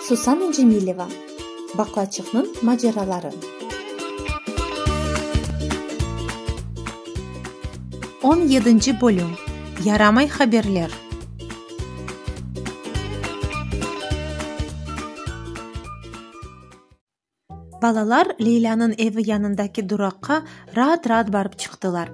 Susana Cemileva, Baqlaçıqnıñ maceraları. On yedinci bölüm, Yaramay haberler. Balalar Leylânıñ evi yanındaki duraqqa raat-raat barıp çıqtılar.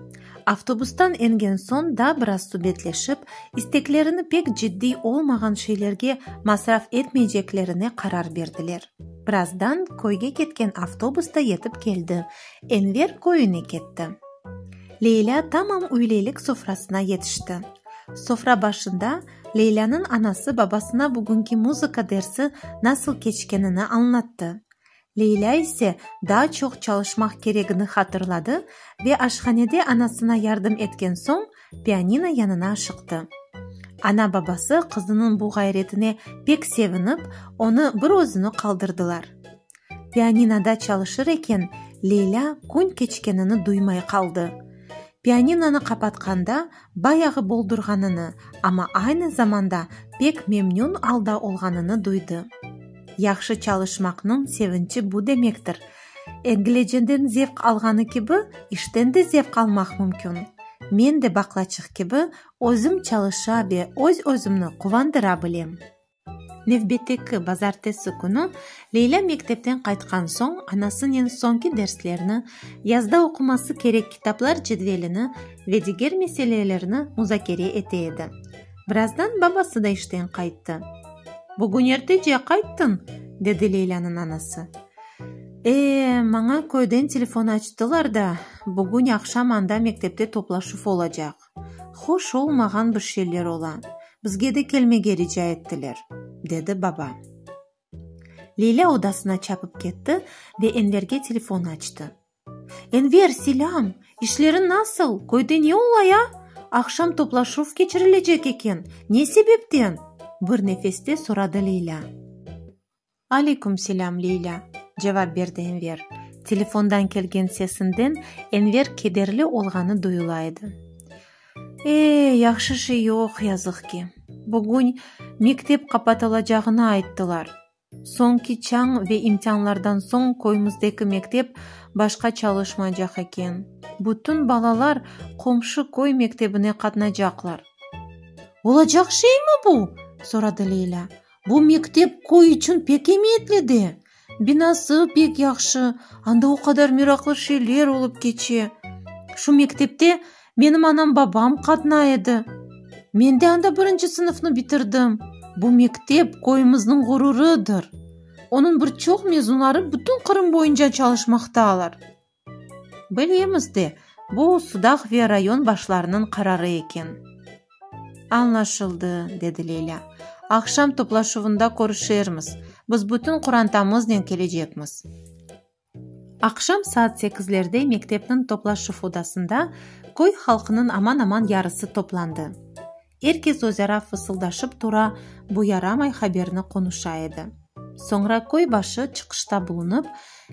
Avtobustan engen soñ da biraz subetleşip, isteklerini pek ciddiy olmağan şeylerge masraf etmeyceklerine qarar berdiler. Birazdan köyge ketken avtobus da yetip keldi, Enver köyüne ketti. Leylâ tamam üyleylik sofrasına yetişti. Sofra başında Leylânıñ anası babasına bugünki muzıka dersi nasıl keçkenini añlattı. Leylâ ise daa çoq çalışmaq keregini hatırladı ve aşhanede anasına yardım etken soñ, pianino yanına aşıqtı. Ana-babası qızınıñ bu ğayretine pek sevinip, onı bir özüni qaldırdılar. Pianinoda çalışır eken, Leylâ kün keçkenini duymay qaldı. Pianinonı qapatqanda bayağı boldurğanını, amma aynı zamanda pek memnün alda olğanını duydı. Yahşı çalışmaqnıñ sevinçi bu demektir. Egleceden zevq alğanı kibi, işten de zevq almaq mümkün. Men de baqlaçıq kibi, özüm çalışa ve öz-özümni quvandıra bilem. Nevbetteki bazartesi künü Leylâ mektepten qaytqan soñ anasınen soñki derslerni, yazda oquması kerek kitaplar cedvelini ve diger meselelerni muzakere ete edi. Birazdan babası da işten qayttı. Bugün ertece qayttıñ? dedi Leylânıñ anası. E, maña köyden telefon açtılar da, bugün aqşam anda mektepte toplaşuv olacaq. Hoş olmağan bir şeyler ola, bizge de kelmege rica ettiler, dedi baba. Leyla odasına çapıp ketti ve Enverge telefon açtı. Enver, selâm! İşleriñ nasıl? Köyde ne ola ya? Aqşam toplaşuv keçirilecek eken, ne sebepten? bir nefeste soradı Leyla. Aleyküm selâm, Leylâ, cevap berdi Enver. Telefondan kelgen sesinden Enver kederli olğanı duyula edi. Ee, yahşı şey yoq, yazıq ki. Bugün mektep qapatılacağını ayttılar. Soñki çañ ve imtianlardan soñ köymizdeki mektep başqa çalışmaycaq eken. Bütün balalar qomşu köy mektebine qatnacaqlar. Olacaq şeymi bu? soradı Leylâ. Bu mektep köy içün pek emiyetli de. Binası pek yahşı, anda o qadar meraqlı şeyler olıp keçe. Şu mektepte menim anam-babam qatnay edi. Men de anda birinci sınıfnı bitirdim. Bu mektep köyümizniñ ğururıdır. Onıñ bir çoq mezunları bütün Qırım boyunca çalışmaqtalar. Bilemiz de, bu sudaq ve rayon başlarınıñ qararı eken. Añlaşıldı, dedi Leyla. Aqşam toplaşuvında körüşermiz. Biz bütün qurantamıznen kelecekmiz. Aqşam saat sekizlerde mektepniñ toplaşuv odasında köy halqınıñ aman-aman yarısı toplandı. Er kes özara fısıldaşıp tura, bu yaramay haberni qonuşa edi. Soñra köy başı çıqışta bulunıp,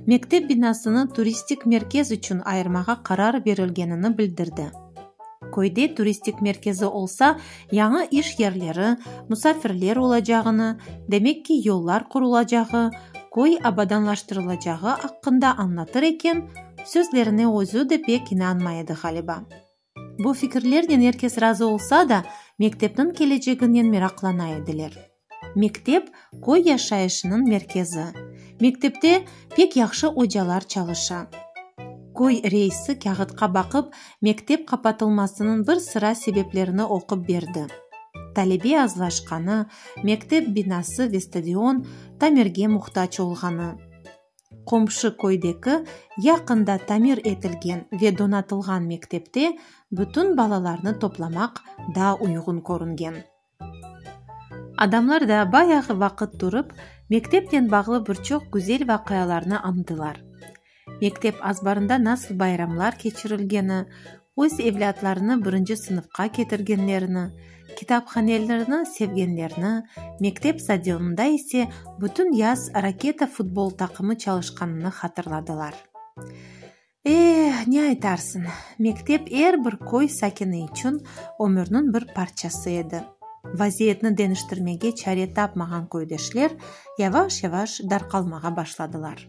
mektep binasını turistik merkez içün ayırmağa qarar berilgenini bildirdi. Köyde turistik merkezi olsa, yañı iş yerleri, musafirler olacağını, demek ki, yollar qurulacağı, köy abadanlaştırılacağı aqqında añlatır eken, sözlerine özü de pek inanmay edi ğaliba. Bu fikirlernen er kes razı olsa da, mektepniñ keleceginen meraqlana ediler. Mektep, köy yaşayışınıñ merkezi. Mektepte pek yahşı ocalar çalışa. Köy reisi kâğıtqa baqıp, mektep qapatılmasınıñ bir sıra sebeplerini oqup berdi. Talebe azlaşqanı, mektep binası ve stadion tamirge muhtac olğanı. Qomşu köydeki yaqında tamir etilgen ve donatılğan mektepte bütün balalarnı toplamaq daa uyğun körüngen. Adamlar da bayağı vaqıt turıp, mektepnen bağlı bir çoq güzel vaqialarnı añdılar. Mektep azbarında nasıl bayramlar keçirilgeni, Öz evlâtlarını birinci sınıfqa ketirgenlerini, kitaphanelerini sevgenlerini, mektep stadionında ise bütün yaz Raketa futbol taqımı çalışqanını hatırladılar. Eh, ne aytarsıñ, mektep er bir köy sakini içün ömürniñ bir parçası edi. Vaziyetni deniştirmege çare tapmağan köydeşler yavaş-yavaş darqalmağa başladılar.